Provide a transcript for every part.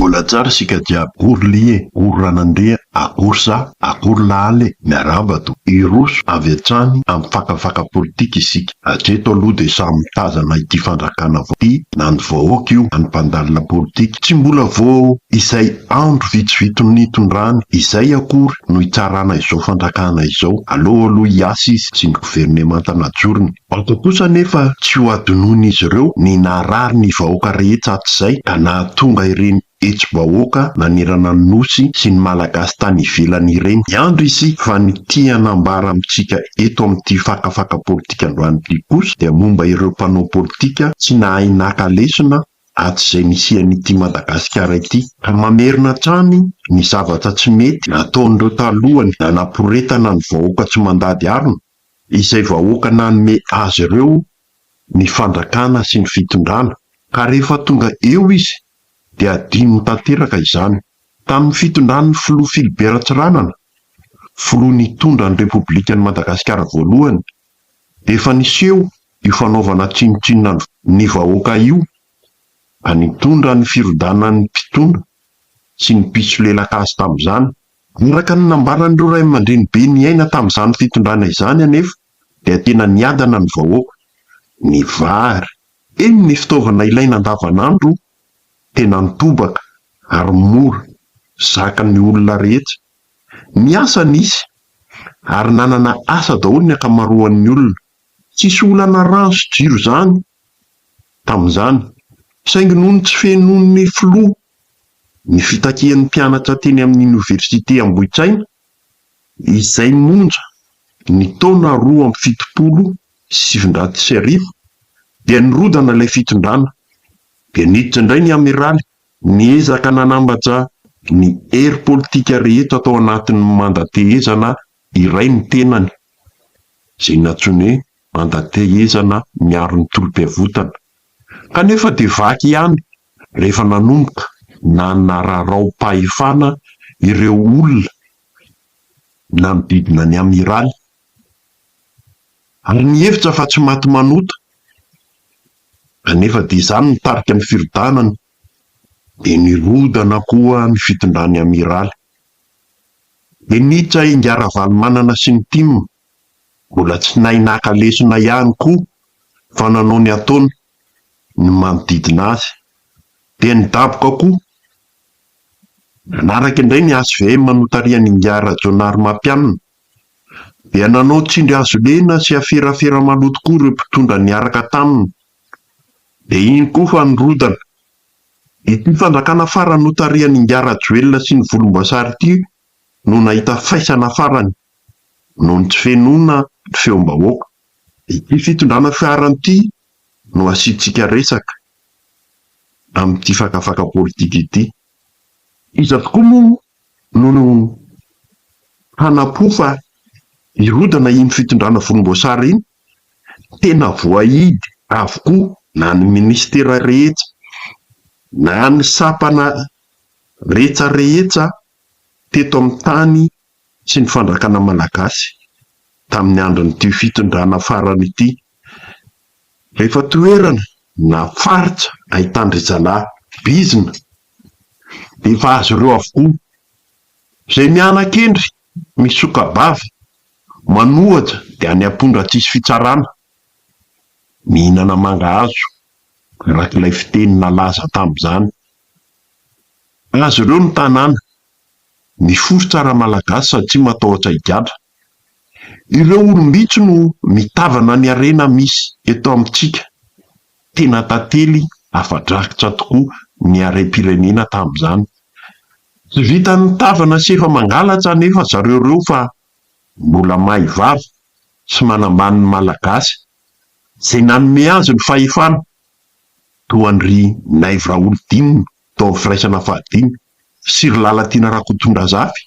Mbola tsara isika jiaby ory lihy e ory ranandria akory za akory lahala e miarahaba to hiroso avy hatrany amin'ny fakafaka politika isika hatreto aloha dia samy mitazana ity fandrakana vao ity na ny vahoaka io na ny mpandalina politika tsy mbola vao izay andro vitsivito nitondrany izay akory no hitsarana izao fandrakana izao aleo aloha hiasa izy sy ny governemanta najorony Antso kosa anefa tsy ho hadinoin'izy ireo ny naharary ny vahoaka rehetra hatrizay ka nahatonga ireny hetsi-bahoaka nanerana ny Nosy sy ny Malagasy tany ivelany ireny. Miandry isika fa ny tiana hanambara amintsika eto amin'ity fakafaka politika androany ity kosa dia momba ireo mpanao politika tsy nahay naka lesona hatrizay nisian'ity Madagasikara ity ka mamerina hatrany ny zavatra tsy mety nataon'ireo taloha nanaporetana ny vahoaka tsy mandady harona. izay vahoaka nanome azy ireo ny fandrakana sy ny fitondrana, ka rehefa tonga eo izy dia adinony tanteraka izany. Tamin'ny fitondran'ny Filoha Philibert Ratsiranana, Filoha nitondra ny Repoblikan'i Madagasikara voalohany, dia efa niseho io fanaovana tsinontsinona ny vahoaka io, ka nitondra ny firodanan'ny mpitondra sy ny mpisolelaka azy tamin'izany. Araka ny nambaran'ireo ray aman-dreny be niaina tamin'izany fitondrana izany anefa dia tena niadana ny vahoaka. Ny vary, eny ny fitaovana ilaina andavanandro tena nitobaka ary mora zakan'ny olona rehetra. Ny asa nisy ary nanana asa daholo ny ankamaroan'ny olona. Tsisy olana rano sy jiro izany tamin'izany saingy noho ny tsy fenon'ny filoha ny fitakian'ny mpianatra teny amin'ny Oniversite Ambohitraina izay nonja ny taona roa amby fitopolo sy sivinjato sy arivo dia nirodana ilay fitondrana dia niditra indray ny Amiraly niezaka nanambatra ny hery politika rehetra tao anatin'ny mandatehezana iray ny tenany izay nantsoiny hoe mandatehezana miaro ny tolom-piavotana kanefa dia vaky ihany rehefa nanomboka nanararaom-pahefana ireo olona nanodidina ny Amiraly ary nihevitra fa tsy maty manota anefa dia izany nitarika ny firodanany dia nirodana koa ny fitondran'ny Amiraly dia niditra i Ngah Ravalomanana sy ny tim mbola tsy nahay naka lesona ihany koa fa nanao ny ataony ny manodidina azy. Dia ny daboka koa. Nanaraka indray ny HVM notarihan'ingahy Rajaonarimampianina. Dia nanao tsindry hazo lena sy aferafera maloto koa ireo mpitondra niaraka taminy. Dia iny koa fa nirodana. Ity fanjakana farany notarihan'ingahy Rajoelina sy ny volomboasary ity no nahita faisana farany noho ny tsy fenoana ny feom-bahoaka. Ity fitondrana fiara ity no asiantsika resaka amin'ity fakafaka politika ity. Iza tokoa moa no hanapo fa hirodana iny fitondrana volomboasary iny? Tena voahidy avokoa na ny minisitera rehetra, na ny sampana rehetra rehetra teto amin'ny tany sy ny fandrakana malagasy tamin'ny andron'ity fitondrana farany ity. Rehefa toerana na faritra ahitan-dry zalahy bizina dia efa azy ireo avokoa. Izay miana-kendry, misoka-bava, manohatra dia any am-pondra tsisy fitsarana. Mihinana mangahazo, araka ilay fiteny nalaza tamin'izany. Azy ireo ny tanàna Miforitra ra malagasy satria matahotra higadra. Ireo olom-bitsy no mitavana ny harena misy eto amintsika. Tena tantely afa-drakitra tokoa ny harem-pirenena tamin'izany. Tsy vitan'ny mitavana sy efa mangalatra anefa zareo ireo fa mbola mahay vava sy manambany ny malagasy izay nanome azy ny fahefana toa an-dry Naivo Raholdina tao amin'ny firaisana fahadimy. Fitsiry Lalatiana Rakotondrazafy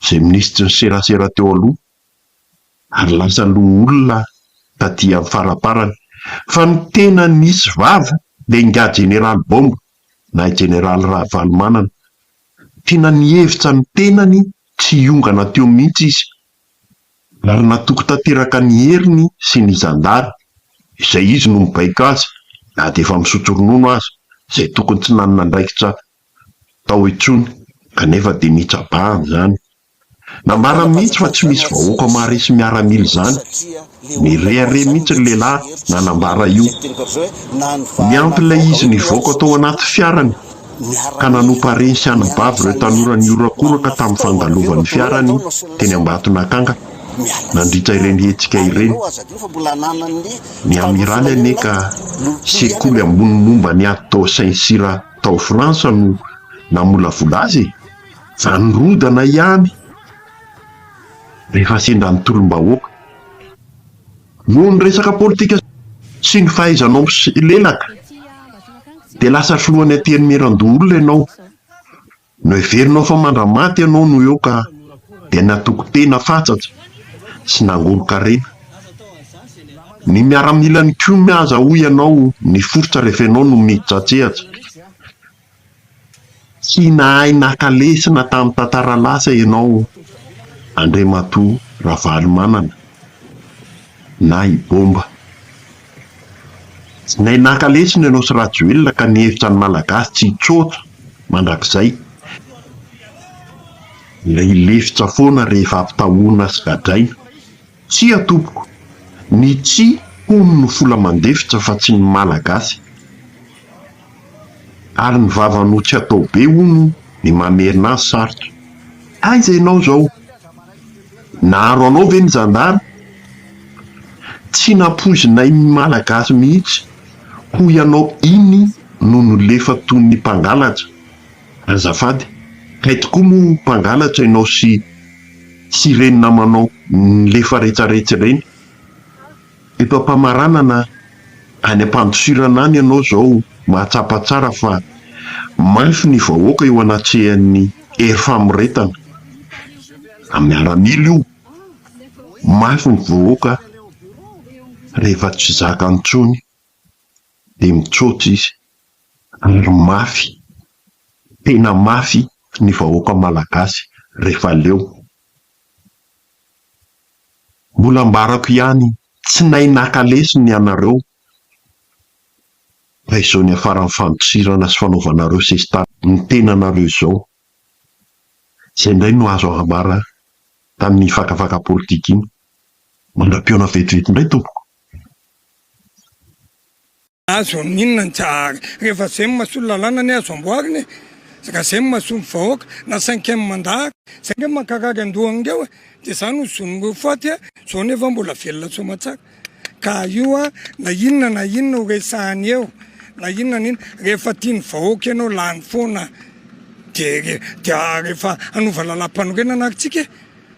izay minisitry ny serasera teo aloha ary lasa loholona taty amin'ny faraparany. Fa ny tena nisy vava dia ingahy Jeneraly Bomba na i Jeneraly Ravalomanana. Tena nihevitra ny tenany tsy hiongana teo mihitsy izy ary natoky tanteraka ny heriny sy ny zandary izay izy no mibaiko azy na dia efa misotro ronono aza izay tokony tsy nanana andraikitra tao intsony kanefa dia nitsabahan izany. Nambarany mihitsy fa tsy misy vahoaka maharesy miaramila izany Nirehareha mihitsy ny lehilahy nanambara io. Niampy ilay izy nivoaka tao anaty fiarany ka nanompa hareny sy anabavy ireo tanora nihorakoraka tamin'ny fandalovan'ny fiarany teny Ambatonakanga nandritra ireny hetsika ireny. Ny Amiraly anie ka sekoly ambony momba ny ady tao Saint-Cyr tao Frantsa no namolavola azy e! Fa nirodana ihany rehefa sendra ny tolom-bahoaka. Noho ny resaka politika sy ny fahaizanao miselelaka dia lasa filohan'ny antenimierandoholona ianao. Noheverinao fa mandramaty ianao no eo ka dia natoky tena fatsatra sy nangolo-karena. Ny miaramilan'i Kumi aza hoy ianao niforitra rehefa ianao no mihitratsehatra. Tsy nahay naka lesona tamin'ny tantara lasa ianao Andriamatoa Ravalomanana na i Bomba. Tsy nahay naka lesona ianao sy Rajoelina ka nihevitra ny Malagasy tsy hitsoaka mandrakizay. Ilay lefitra foana rehefa ampitahoana sy gadraina. Tsia tompoko, ny tsy hono no fola mandefitra fa tsy ny malagasy. Ary ny vava no tsy atao be hono ny mamerina azy sarotra. Aiza ianao izao? Naharo anao ve ny zandary? Tsy nampoizinay ny malagasy mihitsy hoy ianao iny no nolefa toy ny mpangalatra. Azafady, kay tokoa moa mpangalatra ianao sy. sy ireny namanao nilefa retsaretsy ireny. Eto am-pamaranana any am-pandosirana any ianao izao mahatsapa tsara fa mafy ny vahoaka eo anatrehan'ny hery famoretana. Miaramila io. Mafy ny vahoaka rehefa tsy zakany intsony. dia mitsoaka izy ary mafy, tena mafy ny vahoaka malagasy rehefa leo. Mbola ambarako ihany, tsy nahay naka lesona ianareo fa izao niafaran'ny fandosirana sy fanaovanareo sesitany ny tenanareo izao, izay indray no azo ambara tamin'iny fakafaka politika iny. Mandra-pihaona vetivety indray tompoko. Azo amin'ny inona ny Jahary? Rehefa zay no masolon'ny lalàna anie azo amboarina e! Raha zay no masolon'ny vahoaka, na cinquième mandat ary. Zay nge mankarary andohany ngeo e! Dia zany no zon'ireo faty e! Zao anefa mbola velona soamatsara. Ka io na inona na inona ho resahany eo, na inona na inona, rehefa tian'ny vahoaka ianao lany foana dia rehefa hanova lalàmpanorenana ary tsika e!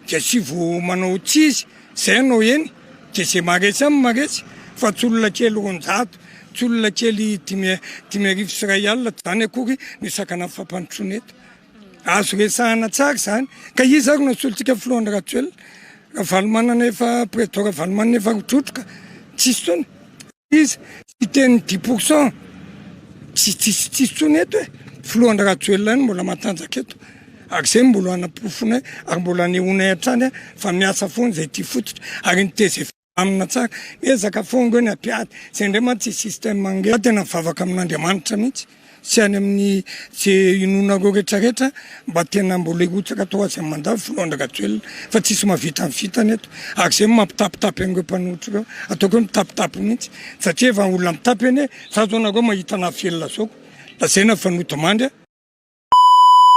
dia tsy vo manao tsy izy zay anao eny dia zay maretsy aminy maretsy fa tsy olona kely roanjato tsy olona kely dimy dimy arivo sy iray alina tsy zany akory ny sakana ny fampandrosoana eto azo resahana tsara izany ka iza ary no solontsika filohan'ny rajoelina ravalomanana efa président ravalomanana efa rotrotroka tsisy tsony Izy siteny dix pour cent tsy tsisy tsisy tsony eto e filoha Andry Rajoelina no mbola matanjaka eto ary izay mbola hanaporofonay ary mbola hanehoanay hatrany fa miasa foana izay ity fototra ary ny tgv amina tsara miezaka foana ireo ny apiady izay indray mantsy système ange tena mivavaka amin'Andriamanitra mihitsy sy any amin'ny ze inoanareo rehetra rehetra mba tena mbola hirotsaka atao azy aman-dava filohan-dRajoelina fa tsisy mahavita ny vitany eto ary zay mampitapitapy an'ireo mpanohitra ireo ataoko hoe mitapitapy mihitsy satria efa olona mitapy anie za zao nareo mahita naha velona zao lazaina fa nodimandry